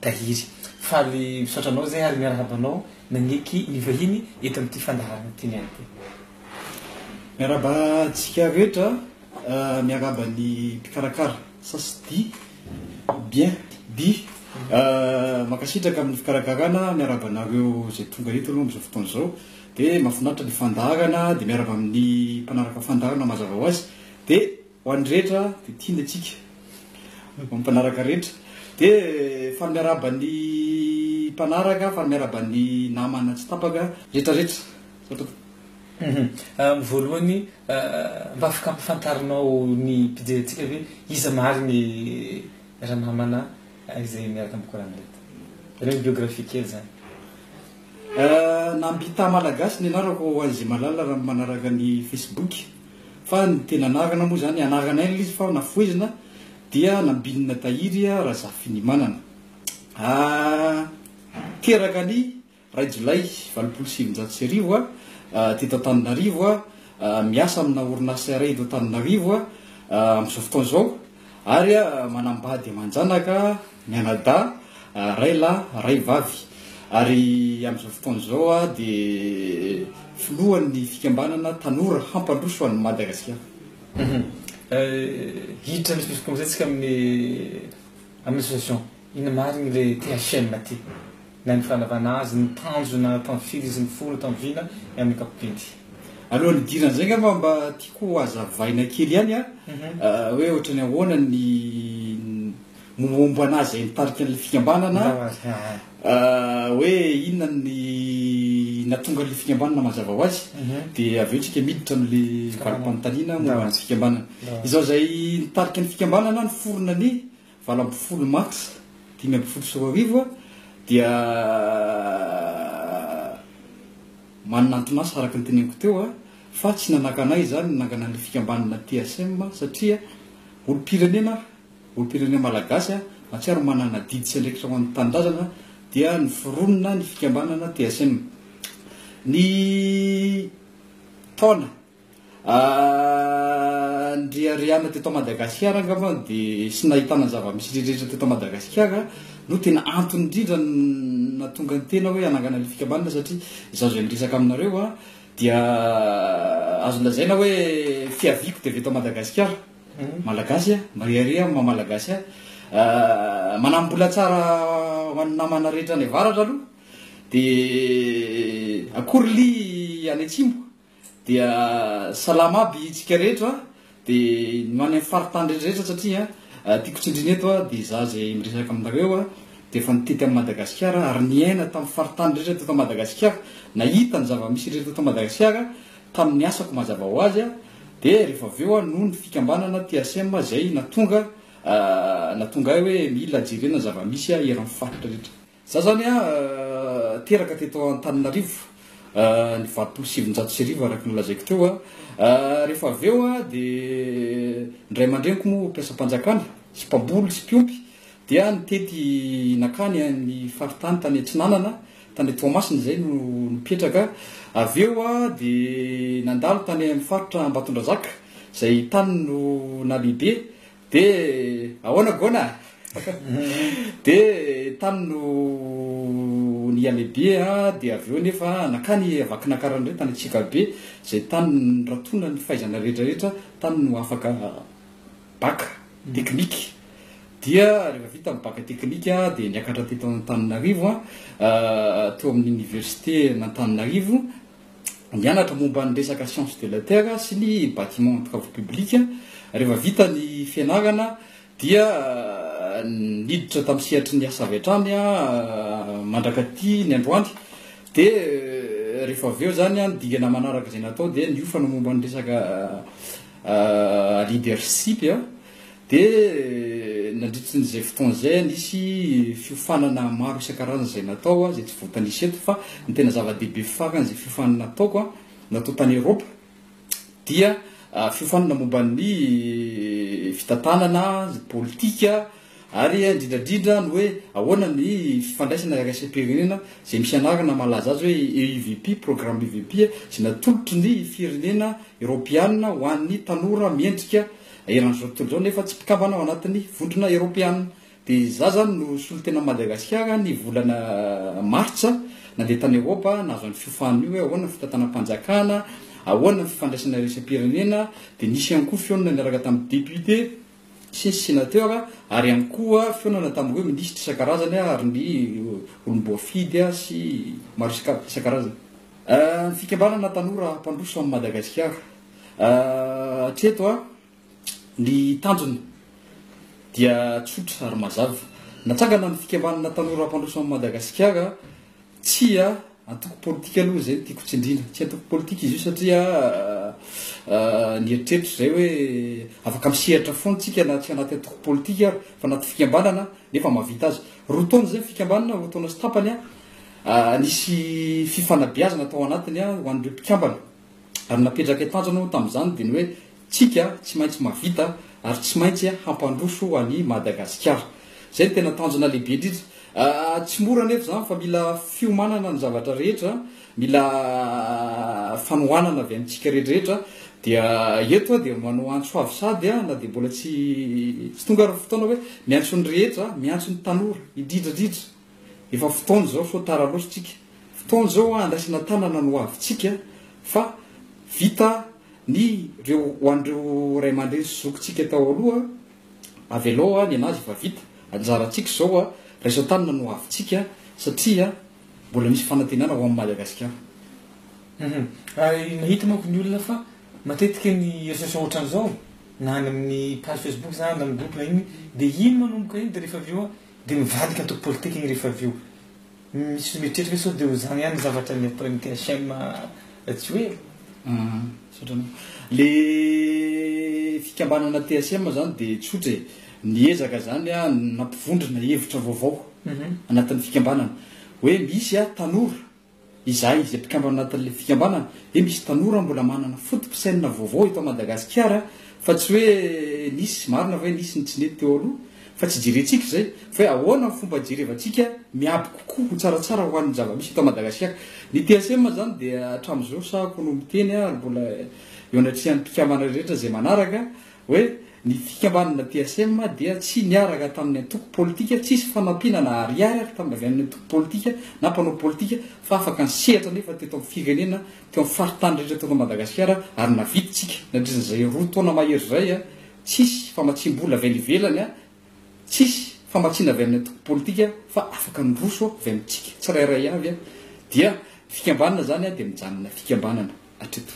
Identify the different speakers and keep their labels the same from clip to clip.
Speaker 1: Tahiry. Faly misaotra anao izay ary miarahaba anao naneky ny vahiny eto amin'ity fandaharana ity ny ahy dia. Miarahaba
Speaker 2: antsika rehetra, miarahaba ny mpikarakara Sasdi bien bi, mankasitraka amin'ny fikarakarana, miarahaba anareo izay tonga eto aloha amin'izao fotoana izao, dia mahafinaritra ny fandaharana, dia miarahaba amin'ny mpanaraka fandaharana mazava ho azy, dia. Ho an'ny rehetra dia tiany antsika. Ho an'ny mpanaraka rehetra. Dia faly miarahaba ny mpanaraka, faly miarahaba ny namana tsy tapaka rehetrarehetra. Izao Tompoko. Amin'ny
Speaker 1: voalohany, mba afaka ampafantarinao ny mpijery antsika ve iza marigny ranamana izay miaraka amin'ny Kor'any reto? Ianao biographie kely zany.
Speaker 2: Nambita Malagasy ny anarako ho an'izay mahalala raha manaraka ny Facebook. Fa ny tena anarana moa izany, anaranay ilay izy fa nafohezina dia nambinina tahiry Razafinimanana. Teraka ny iray jolay valopolo sy sivinjato sy arivo, teto Antananarivo, miasa amina orinasa iray eto Antananarivo amin'izao fotoana izao ary manambady aman-janaka. Mianadahy, ray lahy, ray vavy. Ary amin'izao fotoana izao aho dia filohan'ny fikambanana Tanora Hampandroso an'i Madagasikara.
Speaker 1: Hiditra amin'izay fisokoana izay tsika amin'ny amin'ny association. Inona marigny le THM aty? Na ny fanavana azy, ny tanjona tamy firy izy mifono, tamy vina ny amin'ny ankapobeny. Alohan'ny
Speaker 2: hidirana izay ngamba mba tiako ho hazavaina kely ihany an, hoe ohatrany ahoana ny Momba anà izay nitarika an'ilay fikambanana hoe inona ny nahatonga an'ilay fikambanana mazava ho azy dia avy eo tsika miditra amin'ilay valim-panontaniana momba ny fikambanana. Izaho izay nitarika ny fikambanana niforona ny valo ambin'ny folo mars dimy ambin'ny folo sy roa arivo dia manana anton'asa araka ny teneniko teo fa tsy nanakana ahy izany ny nananganan'ilay fikambanana TSM satria olom-pirenena aho. Olom-pirenena malagasy mahatsiaro manana adidy sy andraikitra ho an'ny tanindrazana dia niforonona ny fikambanana TSM. Ny taona andriarihana teto Madagasikara angamba dia sy nahitana ny zava-misy rehetra teto Madagasikara no tena antony indrindra nahatonga ny tena hoe hanangana ilay fikambanana satria izaho izay miresaka aminareo dia azo lazaina hoe fiaviako dia avy eto Madagasikara. Malagasy a! Mariaria amin'ny maha Malagasy ahy. Manambola tsara ho an'ny namana rehetra any avaratra aloha, dia akory li any atsimo, dia salama aby itsika rehetra, dia ny ho any amin'ny faritany rehetra satria tiako tsindrina eto dia za izay miresaka aminareo dia efa nitety an'i Madagasikara ary niaina tamin'ny faritany rehetra teto Madagasikara, nahita ny zava-misy rehetra teto Madagasikara Tamin'ny asako mazava ho azy dia rehefa avy eo noho ny fikambanana THM izay natonga natonga ahy hoe mila jerena ny zava-misy eran'ny faritra rehetra. Za izany teraka teto Antananarivo ny valopolo sy sivinjato sy arivo araka ny lazaiko teo. Rehefa avy eo dia ny ray aman-dreniko moa mpiasam-panjakana sy mpamboly sy mpiompy dia nitety nankany amin'ny faritany tany Atsinanana Tany Toamasina izay no nipetraka. Avy eo dia nandalo tany amin'ny faritra Ambatondrazaka izay tany no nalehibe. Dia ahoana Gona? Dia tany no niha-lehibe dia avy eo anefa nankany Vakinankarana indray tany Antsikabe izay tany no niratona ny fahaizana rehetrarehetra, tany no afaka Bacc teknika dia rehefa vita ny bacc teknika dia niakatra teto Antananarivo teo amin'ny université an'Antananarivo nianatra momba ny resaka science de la terre sy ny bâtiment travaux public rehefa vita ny fianarana dia niditra tamin'ny sehatry ny asa avy hatrany mandrakaty ny androany dia rehefa avy eo zany ny dingana manaraka izay natao dia niofana momba ny resaka leadership dia nandritry ny izay fotoana izay nisy fiofanana maro isan-karazany izay natao izay tsy voatanisa eto fa ny tena zava-dehibe farany izay fiofanana nataoko natao tany Eropa dia fiofanana momba ny fitantanana, politika, Ary indrindradrindra ny hoe ahoana ny fifandraisana iraisam-pirenena izay misy anarana malaza azy hoe EUVP, Programme UVP, izay natolotry ny firenena Eropeanina ho an'ny tanora miendrika eran'izao tontolo izao nefa tsy mpikambana ao anatin'ny vondrona Eropeanina. Dia izaho izany no solontenan'i Madagasikara ny volana martsa nandeha tany Eropa nahazo an'io fiofana io hoe ahoana ny fitantanam-panjakana, ahoana ny fifandraisana iraisam-pirenena, dia nisy ihany koa fihaonana niaraka tamin'ny député. sy Sénateur ary ihany koa fihaonana tamin'ireo Minisitra isan-karazany ary ny olom-boafidy sy maro isan-karazany. Ny fikambanana tanora mpandroso an'i Madagasikara. Hatreto ny tanjona dia tsotra ary mazava. Natsangana ny fikambanana tanora mpandroso an'i Madagasikara tsia. Antoko politika aloha izay no tiako tsindriana. Tsy antoko politika izy io satria ny eritreritro izay hoe afaka misehatra foana tsika na tsy anaty antoko politika ary fa anaty fikambanana nefa mahavita azy. Roa taona izay ny fikambanana, roa taona sy tapany, nisy fifanabeazana tao anatiny ho an'ireo mpikambana. Ary napetraka tanjona aho tamin'izany dia ny hoe tsika tsy maintsy mahavita ary tsy maintsy hampandroso an'i Madagasikara. Izay no tena tanjona lehibe indrindra. Tsy mora anefa izany fa mila fiomanana ny zavatra rehetra, mila fanohanana avy amintsika rehetrarehetra. Dia eto aho dia manao antso avo sady na dia mbola tsy tonga ary ny fotoana hoe miantso ny rehetra, miantso ny tanora indrindra indrindra. Efa fotoana izao sao tara loatra tsika. Fotoana izao hoa andraisana tanana ny hoavintsika fa vita ny reo ho an'ireo ray aman-dreny sy zokintsika tao aloha. Avelao hoa ny anazy efa vita. Anjarantsika izao hoa raisa-tanana ny hoavintsika satria mbola misy fanantenana ho an'i Madagasikara.
Speaker 1: Mahita manko ny olona fa matetika ny reseaux sociaux ohatran'izao na any amin'ny page facebook zany na amin'ny groupe na inona dia iny manomboka iny dia rehefa avy eo hoa. Dia mivadika antoko politika igny rehefa avy eo. Misy mieritreritra hoe sao dia ho zany ihany ny zavatra ny après ny THM Rajoelina. Aa misaotra anao. Le
Speaker 2: fikambanana THM zany dia tsotra e. Niezaka zany an nampivondrona hevitra vaovao anatin'ny fikambanana. Hoe misy an tanora Izahay izay mpikambana ao anatin'ilay fikambanana dia misy tanora mbola manana foto-pisainana vaovao eto Madagasikara fa tsy hoe nisy, marina ve nisy ny tsy nety teo aloha fa tsy jerentsika izay fa hoe ahoana ny fomba hijerevantsika miabo kokoa ho tsaratsara ho an'ny zava-misy eto Madagasiaka. Ny TSM izany dia hatramin'izao sahako no miteny ary mbola eo anatrehan'ny mpikambana rehetra izay manaraka hoe, Ny fikambanana PSM dia tsy niaraka tamin'ny antoko politika, tsisy fanampiana na ariary ary tamin'ny avy amin'ny antoko politika na mpanao politika fa afaka nisehatra anefa teto amin'ny firenena, teo amin'ny faritany rehetra teto Madagasikara ary navidintsika nandritran'izay roa taona mahery izay tsisy famatsiam-bola avy any ivelany, tsisy famatsiana avy amin'ny antoko politika fa afaka niroso avy amintsika tsirairay avy dia fikambanana izany dia mijanona fikambanana hatreto.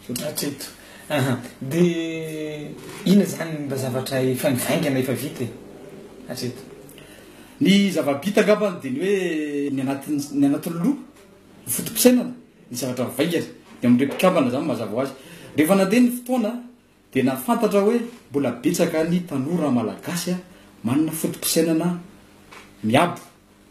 Speaker 2: Hatreto. Aha.
Speaker 1: Dia inona izany mba zavatra efa nivaingana efa vita e? Hatreto. Ny
Speaker 2: zava-bita angambany dia ny hoe ny anatin'ny ny anatin'ny loha, ny foto-pisainana, ny zavatra mivaingana. Dia amin'ireo mpikambana izany mazava ho azy. Rehefa nandeha ny fotoana Dia nahafantatra aho hoe mbola betsaka ny tanora malagasy manana foto-pisainana miabo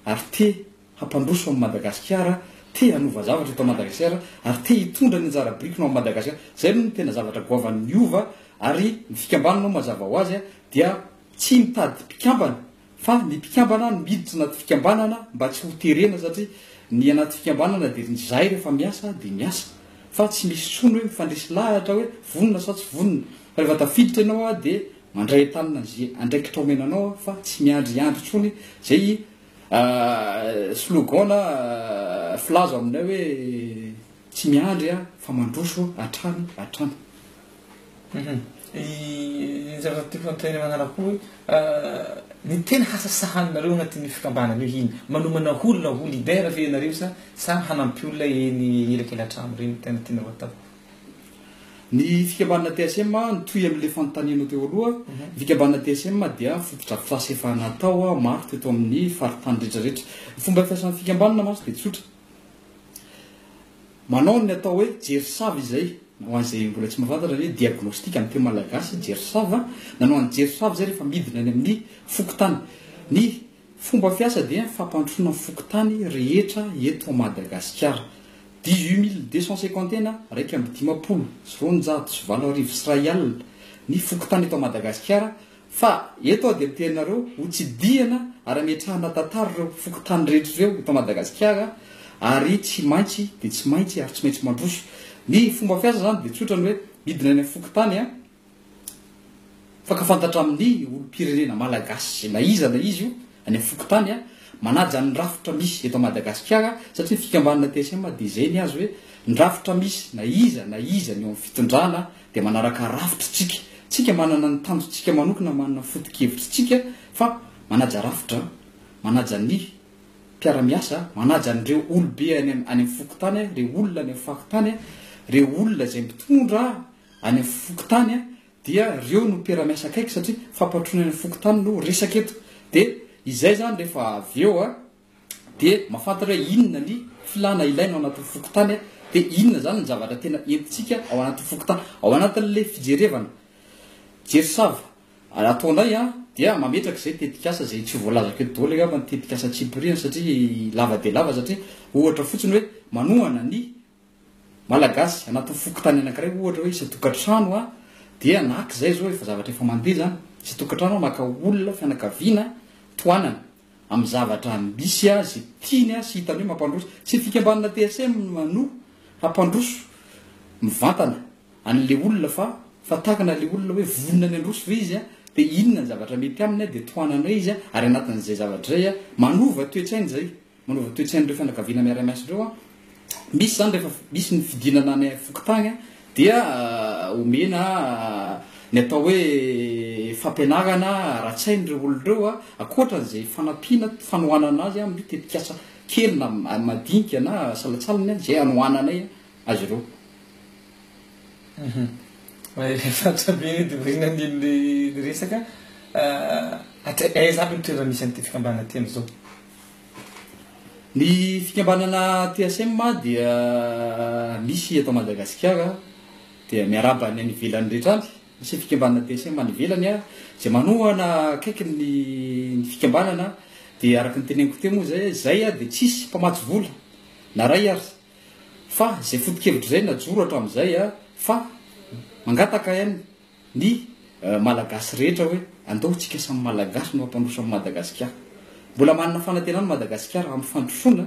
Speaker 2: ary te hampandroso an'i Madagasikara, te hanova zavatra eto Madagasikara ary te hitondra ny anjara birikiny ao amin'i Madagasikara. Izay aloha no tena zavatra goavan'ny Hova ary ny fikambanana mazava ho azy dia tsy mitady mpikambana Fa ny mpikambana no miditra anaty fikambanana mba tsy ho terena satria ny anaty fikambanana dia ny zay rehefa miasa dia miasa fa tsy misy tsony hoe mifandresy lahatra hoe vonona sa tsy vonona fa rehefa tafiditra ianao dia mandray an-tanana ze andraikitra omena anao fa tsy miandriandry tsony zay slogan na filaza ao aminay hoe Tsy miandry aho fa mandroso hatrany hatrany.
Speaker 1: Ny zavatra tiako hanontaniana manaraka koa hoe ny tena hasasahaninareo anatin'io fikambanana io ino? Manomana olona ho leader ve ianareo sa samy hanampy olona eny elakelatrano ireny no tena tianareo atao?
Speaker 2: Ny fikambanana TSM, mitohy amin'ilay fanontanianao teo aloha, ny fikambanana TSM dia fotodrafitrasa efa natao maro teto amin'ny faritany rehetra rehetra. Ny fomba fiasan'ny fikambanana mantsy dia tsotra. Manao ny atao hoe jerisava izay, ho an'izay mbola tsy mahafantatra ny hoe diagnostic amin'ny teny malagasy, jerisava, nanao an'i jerisava izay rehefa midina any amin'ny fokontany. Ny fomba fiasa dia fampandrosoana ny fokontany rehetra eto Madagasikara. Dix-huit mille deux cent cinquante et un, iraika amby dimampolo sy roanjato sy valo arivo sy iray alina, ny fokontany eto Madagasikara Fa eto aho dia miteny anareo ho tsidihana ary hametrahana tantara ireo fokontany rehetra ireo eto Madagasikara ary tsy maintsy dia tsy maintsy ary tsy maintsy mandroso. Ny fomba fiasa izany dia tsotra ny hoe midina any amin'ny fokontany an! Mifankafantatra amin'ny olom-pirenena malagasy na iza na iza io Any fokontany manaja ny rafitra misy eto Madagasikara satria ny fikambanana TSM dia izay ny azy hoe ny rafitra misy na iza na iza ny eo amin'ny fitondrana dia manaraka rafitry tsika tsika manana ny tanjo tsika manokana manana foto-kevitry tsika fa manaja rafitra manaja ny mpiara-miasa manaja an'ireo olobe any any amin'ny fokontany ireo olona any amin'ny faritany ireo olona izay mitondra any amin'ny fokontany dia reo no mpiara-miasa akaiky satria fampatroana eny fokontany no resaka eto de izay zany refa avy eo a de mafantatra hoe inona ny filana ilaina ao anatin'ny fokontany a de inona zany ny zavatra tena entintsika ao anatin'ny fokontany ao anatin'le fijerevana jerisava ataonay a dia mametraka izay tetikasa izay tsy ho voalazako eto daholo angamba ny tetikasa tsipiriany satria lava dia lava satria ohatra fotsiny hoe manohana ny Malagasy, anatin'ny fokontany anankiray ohatra hoe isan-tokantrano a, dia na k izay izao efa zavatra efa mandeha izany, isan-tokantrano a maka olona, fianakaviana, tohanana, amin'ny zavatra misy a, izay tiany a sy hitany hoe mampandroso, tsy ny fikambanana TSM no hampandroso mivantana an'ilay olona fa fa takana ilay olona hoe vonona ny handroso ve izy a, dia inona ny zavatra mety aminy a, dia tohananay izy a, ary anatin'izay zavatra izay a, manova toetsaina izay, Manova toe-tsain'ireo fianakaviana miaray maison ireo an. Misy izany rehefa misy ny fidinana any fokontany an, dia omena ny atao hoe fampianarana ara-tsaina ireo olona ireo an, ankoatra an'izay fanampiana fanohanana azy amin'ny tetikasa kely na madinika na salantsalany an, izay anohananay azy ireo.
Speaker 1: Mahafantatra be ny Dorina ny resaka. Aiza aby ny toerana misy an'ity fikambanana ity amin'izao? Ny
Speaker 2: fikambanana TSM dia misy eto Madagasikara dia miarahaba ny any ivelany rehetra any. Misy fikambanana TSM any ivelany a, izay manohana akaiky ny ny fikambanana dia araka ny teneniko teo moa izay izay dia tsisy mpamatsy vola na iray ary fa izay foto-kevitra izay najoro hatramin'izay a fa mangataka any ny Malagasy rehetra hoe andao tsika samy Malagasy no hampandroso an'i Madagasikara. Mbola manana fanantenana Madagasikara hampifandrosoana,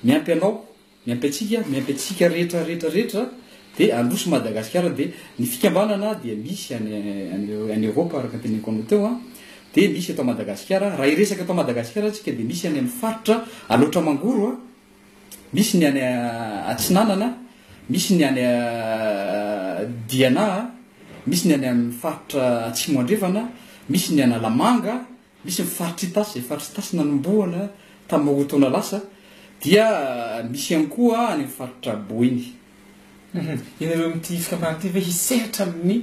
Speaker 2: miampy anao, miampy antsika, miampy antsika rehetra rehetra rehetra dia handroso Madagasikara dia ny fikambanana dia misy any any Europe araka ny teneniko anao teo an, dia misy eto Madagasikara, raha hiresaka eto Madagasikara tsika dia misy any amin'ny faritra Alaotra Mangoro an, Misy ny any Atsinanana, misy ny any Diana, misy ny any amin'ny faritra Atsimo Andrefana, misy ny Analamanga, misy ny faritr' Itasy, izay faritr' Itasy nanombohana tamin'ny roa taona lasa, dia misy ihany koa any amin'ny faritra Boeny.
Speaker 1: Ianareo amin'ity fikambanana ity ve hisehatra amin'ny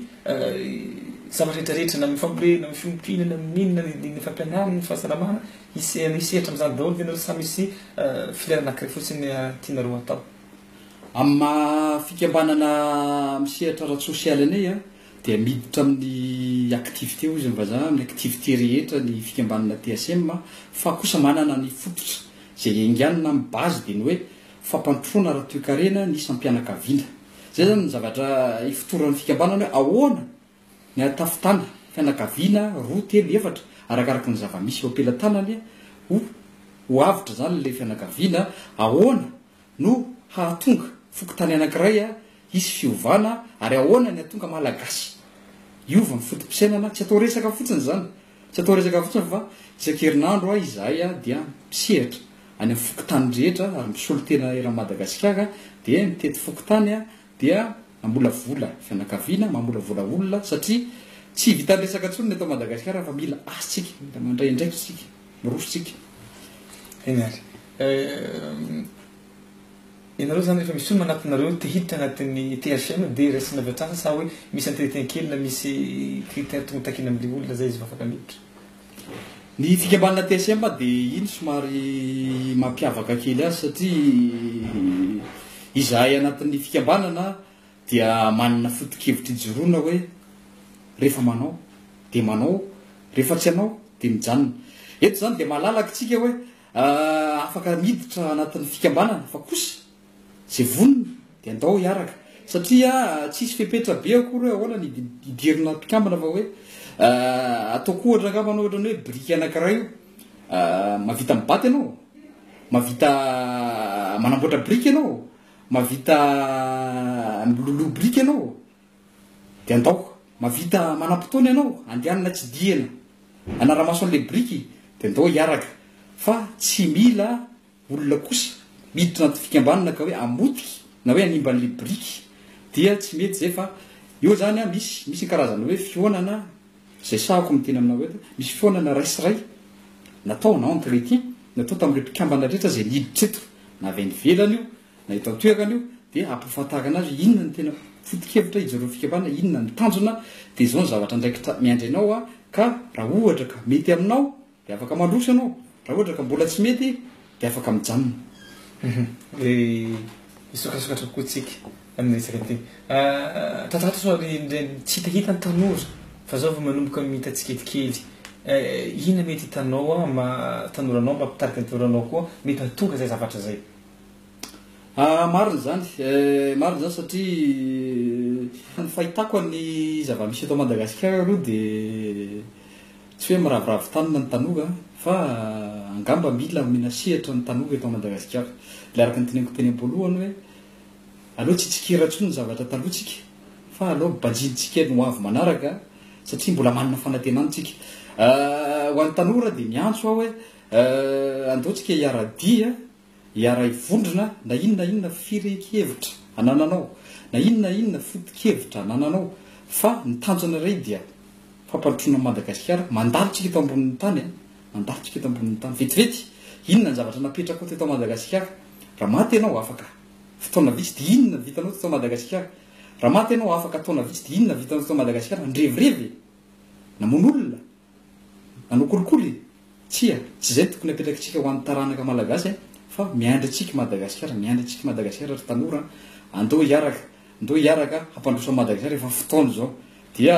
Speaker 1: zavatra rehetra rehetra na amin'ny fambolena, amin'ny fiompiana, na amin'ny inona, na ny fampianarana, ny fahasalamana, hisehatra amin'izany daholo ve ianareo sa misy filière anankiray fotsiny tianareo hatao? Amin'ny
Speaker 2: maha fikambanana misehatra ara-tsosialy anay dia miditra amin'ny activité hoy izy ny vazaha, amin'ny activité rehetra ny fikambanana TSM fa kosa manana ny fototra izay enganina amin'ny base dia ny hoe fampandrosoana ara-toekarena ny isam-pianakaviana. Izay izany ny zavatra ifotoran'ny fikambanana hoe ahoana ny ahatafitana fianakaviana roa, telo, efatra, arakaraky ny zava-misy eo am-pelatanany ho ho avotra izany ilay fianakaviana, ahoana no hahatonga fokontany anankiray hisy fiovana ary ahoana ny hahatonga Malagasy hiova amin'ny foto-pisainana, tsy atao resaka fotsiny izany Tsy atao resaka fotsiny fa isan-kerinandro aho izahay dia misehatra any amin'ny fokontany rehetra ary misolo tena eran'i Madagasikara dia mitety fokontany dia mamolavola fianakaviana, mamolavola olona satria tsy vitan'ny resaka intsony ny eto Madagasikara fa mila asa isika, mila mandray andraikitra isika, miroso isika.
Speaker 1: Eny ary. Ianareo zany rehefa misy olona anatinareo te hiditra anatin'ny THM de raisina avy hatrany sa hoe misy entretien kely na misy critère tokony takina amle olona zay izy vao afaka miditra? Ny
Speaker 2: fikambanana THM dia iny somary mampiavaka kely azy satria izahay anatin'ny fikambanana dia manana foto-kevitra ijoroana hoe rehefa manao dia manao, rehefa tsy hanao dia mijanona. Eto izany dia malalaky tsika hoe afaka miditra anatin'ny fikambanana fa kosa izay vonona dia andao hiaraka satria tsisy fepetra be akory hoe ahoana ny hidirina mpikambana fa hoe ataoko ohatra angamba anao ohatran'ny hoe biriky anankiray io mavita mibaty ianao mavita manamboatra biriky ianao mavita miloloha biriky ianao Dia andaoko, mahavita manam-potoana ianao, andehanana tsidihana, hanara-maso an'ilay biriky, dia andao hiaraka. Fa tsy mila olona kosa miditra anaty fikambanana ka hoe hamotika na hoe hanimba an'ilay biriky. Dia tsy mety izay fa eo izany an, misy, misy ny karazana hoe fihaonana, izay sahako miteny aminao eto, misy fihaonana raisy ray natao en entretien, natao tamin'ireo mpikambana rehetra izay niditra eto, na avy any ivelany io, Na eto an-toerana io dia hampahafantarana azy inona ny tena foto-kevitra ijeroan'ny fikambanana, inona ny tanjona dia izao ny zavatra andraikitra miandry anao a, ka raha ohatra ka mety aminao dia afaka mandroso ianao, raha ohatra ka mbola tsy mety dia afaka mijanona.
Speaker 1: Dia hisokasokatra kokoa tsika amin'ny resaka ity. Tatatro sao ry Nireny tsy hita hita ny tanora fa izao vao manomboka mita tsikelikely. Inona mety hitanao maha tanora anao mba hampitarika ny tanora anao koa mety hahatonga izay zavatra izay. Ah,
Speaker 2: marina izany eh, marina izany satria ny fahitako an'ny zava-misy eto Madagasikara aloha dia tsy hoe miraviravy tanana ny tanora an, fa angamba mila omena sehatra ny tanora eto Madagasikara. Ilay araka ny teneniko teny am-poalohany hoe aleo tsy hitsikera intsony ny zavatra talohantsika fa aleo banjintsika ny ho avy manaraka satria mbola manana fanantenana tsika. Ah, ho an'ny tanora dia miantso aho hoe eh, andeontsika hiara-dia Hiaray vondrona na inona na inona firehin-kevitra anananao, na inona na inona foto-kevitra anananao, fa ny tanjona iray dia fampandrosoana an'i Madagasikara, mandalo tsika eto ambonin'ny tany a, mandalo tsika eto ambonin'ny tany, vetivety, inona ny zavatra napetrako teto Madagasikara, raha maty ianao afaka fotoana vitsy dia inona ny vitanao teto Madagasikara, raha maty ianao afaka taona vitsy dia inona ny vitanao teto Madagasikara, nirevirevy e, namono olona, Nanao kolikoly e! Tsia, tsy izay tokony apetrakitsika ho an'ny taranaka malagasy an! Fa miandry antsika i Madagasikara, miandry antsika i Madagasikara ry tanora an! Andao hiaraka, andao hiaraka hampandroso an'i Madagasikara efa fotoana izao. Dia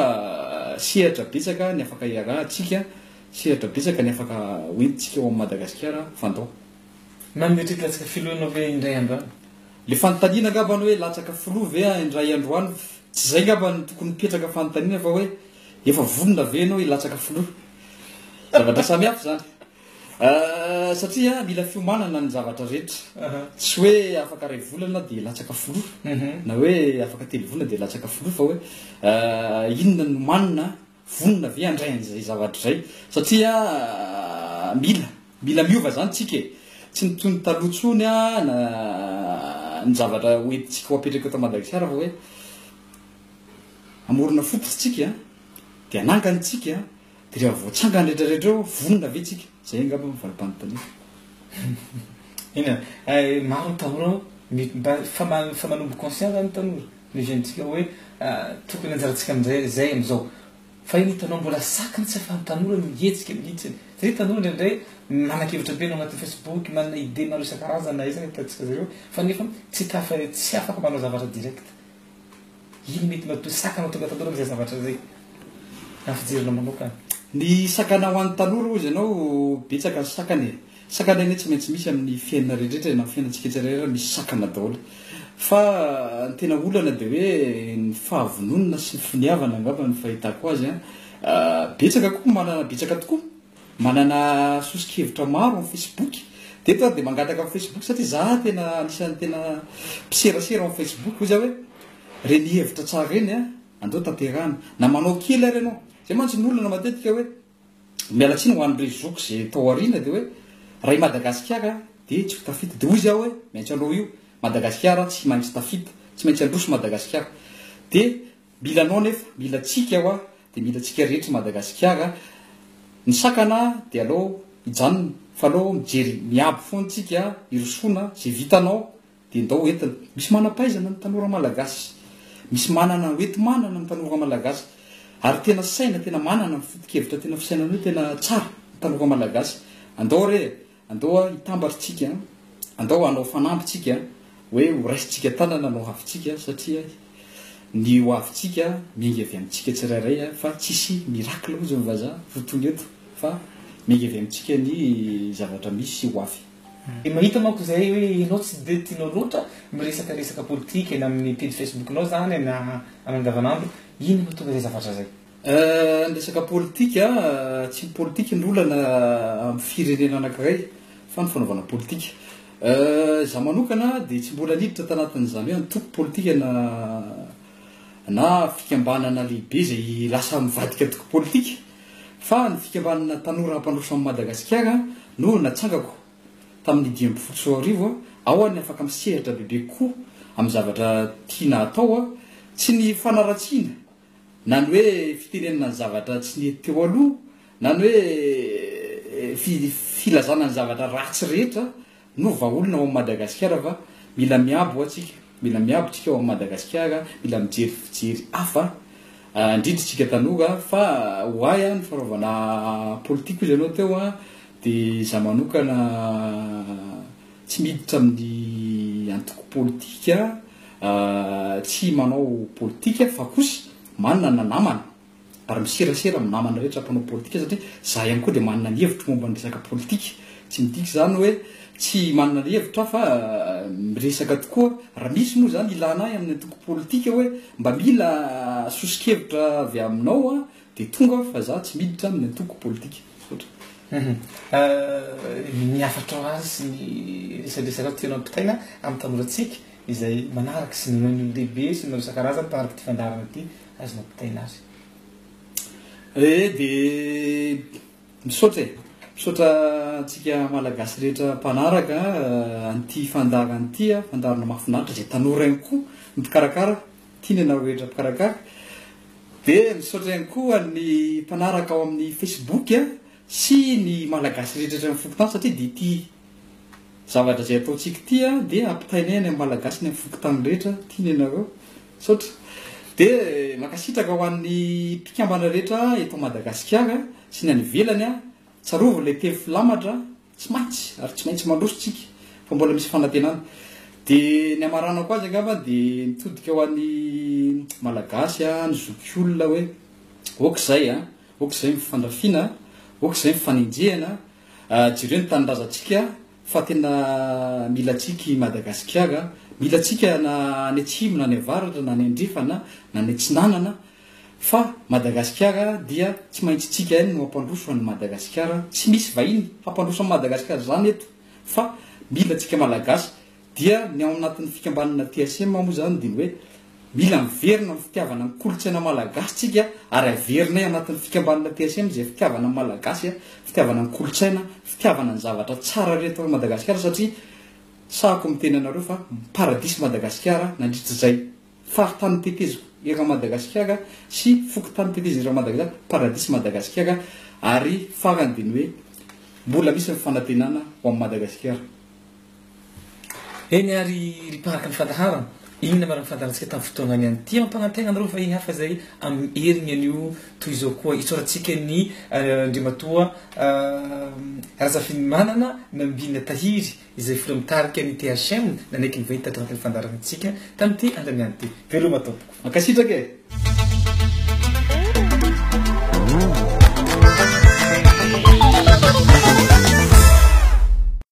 Speaker 2: sehatra betsaka ny afaka iarahantsika, sehatra betsaka ny afaka ho entintsika ao amin'i Madagasikara fa andao. Na mety
Speaker 1: hilatsaka filoha ianao ve indray andro any? Le fanontaniana
Speaker 2: angamba any hoe latsaka filoha ve indray andro any? Tsy izay angamba no tokony hipetraka fanontaniana fa hoe Efa vonona ve ianao hilatsaka filoha? Zavatra samy hafa izany. Satria mila fiomanana ny zavatra rehetra. Tsy hoe afaka iray volana dia latsaka filoha, mhm. na hoe afaka telo volana dia latsaka filoha, fa hoe inona no manina, vonona ve handray an'izay zavatra izay? Satria mila, mila miova izany tsika e. Tsy ny toy ny taloha tsony a, na ny zavatra hoentintsika ho apetraka eto Madagasikara fa hoe Hamorona foko tsika de hanangany tsika de rehefa voatsangany rehetra rehetra eo vonona ve tsika? Zay angamba no valipanontaniako.
Speaker 1: Eny e, maro ny tanora mba efa efa manomboka conscient zany ny tanora, ny jeune tsika hoe tokony anjarantsika amin'izay zay amin'izao. Fa iny hitanao mbola saky ny tsy afahan'ny tanora ny hihetsika mihitsy. Satria ny tanora indraindray manakevitra be ny ao anatin'ny facebook, manana idée maro isan-karazany na aiza na aiza hitantsika zareo fa nefa tsy tafa- tsy afaka manao zavatra direct. Ino mety matoa sakana ho tonga tanora amin'izay zavatra izay? Raha ny fijerinao manokana. Ny sakana
Speaker 2: ho an'ny tanora hozy ianao, betsaka ny sakana e. Sakana anie tsy maintsy misy amin'ny fiainana rehetrarehetra na amin'ny fiainantsika tsirairay misy sakana daholo. Fa ny tena olana dia hoe ny fahavononana sy ny finiavana angamba no fahitako azy an. Betsaka koa manana betsaka tokoa. Manana soso-kevitra maro amin'ny Facebook. Dia eto aho dia mangataka amin'ny Facebook satria za tena anisan'ny tena mpiserasera ao amin'ny Facebook. Hoy za hoe, ireny hevitra tsara ireny an, andao tanterahana. Na manao kely ary ianao. Izay mantsy ny olana matetika hoe, miala tsiny ho an'ireo zoky izay tao aoriana dia hoe, raha i Madagasikara dia tsy ho tafita. Dia hoy za hoe, maintsy hanao io. Madagasikara tsy maintsy tafita. Tsy maintsy handroso Madagasikara. Dia Mila anao nefa mila tsika wa de mila tsika rehetra Madagasikara Ny sakana de alao hijanona fa alao mijery miabo foana tsika hirosoana ze vitanao de ndao ho entina Misy manampahaizana ny tanora malagasy Misy manana ho enti manana ny tanora malagasy Ary tena saina tena manana ny foto kevitra tena fisainana io tena tsara ny tanora malagasy Andao re Andao a hitambatra tsika a. Andao hanao fanamby tsika a. Hoe ho raisintsika tanana no havintsika satria ny ho avintsika miainga avy amintsika tsirairay a fa tsisy miracle hozy ny vazaha ho tony eto fa miainga avy amintsika ny zavatra misy sy ho avy. Dia
Speaker 1: mahita manko izay hoe ianao tsy dia tianao loatra miresaka resaka politika eny amin'ny pejy facebook-nao izany na andavanandro, inona no mahatonga izay zavatra izay? Ny resaka
Speaker 2: politika, tsy ny politika no olana amin'ny firenena anankiray fa ny fanaovana politika. Izaho manokana dia tsy mbola niditra tanatin'izany hoe antoko politika na na fikambanana lehibe izay lasa mivadika antoko politika fa ny fikambanana tanora mpandroso an'i Madagasikara no natsangako tamin'ny dimy ambin'ny folo sy roa arivo. Ao aho no afaka misehatra bebe kokoa amin'ny zavatra tiana atao, tsy ny fanaratsiana Na ny hoe fitenenana ny zavatra tsy nety teo aloha, na ny hoe fi, filazana ny zavatra ratsy rehetra no vahaolana ao amin'i Madagasikara fa mila miabo ho'a tsika, mila miabo tsika ao amin'i Madagasikara, mila mijery fijery hafa, indrindra isika tanora fa ho ahy an ny fanaovana politika hoy izy ianao teo an dia izaho manokana Tsy miditra amin'ny antoko politika, tsy manao politika fa kosa manana namana ary miserasera amin'ny namana rehetra mpanao politika satria za ihany koa dia manana ny hevitro momba ny resaka politika. Tsy midika izany hoe tsy manana ny hevitro aho fa miresaka tokoa raha misy moa izany ilana ahy amin'ny antoko politika hoe mba mila soso-kevitra avy aminao aho Dia tonga aho fa za tsy miditra amin'ny antoko politika. Misaotra. Hum.
Speaker 1: Ny hafatrao azy sy ny resadresatrao tianao ampitaina amin'ny tanorantsika izay manaraka sy ny ireo olon-dehibe sy ny ireo isan-karazany mpanaraka ity fandaharana ity azonao ampitaina azy. Ee
Speaker 2: dia misaotra e! Misaotra antsika Malagasy rehetra mpanaraka an'ity fandaharana ity, fandaharana mahafinaritra izay tanora ihany koa no mpikarakara. Tiany ianao ho endrika mpikarakara. Dia misaotra ihany koa ny mpanaraka ao amin'ny Facebook sy ny Malagasy rehetra eto amin'ny fokontany satria dia ity zavatra izay ataontsika ity dia ampitainay any amin'ny Malagasy any amin'ny fokontany rehetra tiany ianareo. Misaotra. Dia mankasitraka ho an'ny mpikambana rehetra eto Madagasikara sy ny any ivelany. Tsarovy ilay teny filamatra Tsy maty ary tsy maintsy mandroso tsika fa mbola misy fanantenana. De ny amaranako azy angamba de mitodika ho an'ny Malagasy a, ny zokiolona hoe ok zay a, ok zay ny fandrafiana, ok zay ny fanenjehana, jereo ny tanindrazantsika fa tena mila antsika i Madagasikara, mila antsika na any atsimo na any avaratra na any andrefana na any atsinanana. Fa Madagasikara dia tsy maintsy tsika ihany no hampandroso an'i Madagasikara, tsy misy vahiny hampandroso an'i Madagasikara izany eto fa mila tsika Malagasy, dia ny ao anatin'ny fikambanana TSM moa izany dia ny hoe mila miverina amin'ny fitiavana ny kolontsaina Malagasy tsika ary averinay anatin'ny fikambanana TSM izay fitiavana ny Malagasy, fitiavana ny kolontsaina, fitiavana ny zavatra tsara rehetra ao Madagasikara satria sahako miteny anareo fa paradisa i Madagasikara nandritra izay Faritany Tetezo eran Madagasikara sy Fokontany Tetezo eran Madagasikara, Paradis Madagasikara, ary farany dia ny hoe mbola misy ny fanantenana ho an'i Madagasikara.
Speaker 1: Eny ary ry mpaharaky ny fandaharana, inona marina ny fandaharantsika tamin'ny fotoana niany? Tia hampanantena anareo va i hafa izay amin'ny heriny anio toy izao koa? Isaorantsika ny Andriamatoa Razafinimanana Nambina Tahiry, izay filoha mitarika ny THM nanaiky ny vahiny tato anatin'ny fandaharanantsika tamin'ity
Speaker 2: androany
Speaker 1: ity. Veloma tompoko. Mankasitraka e.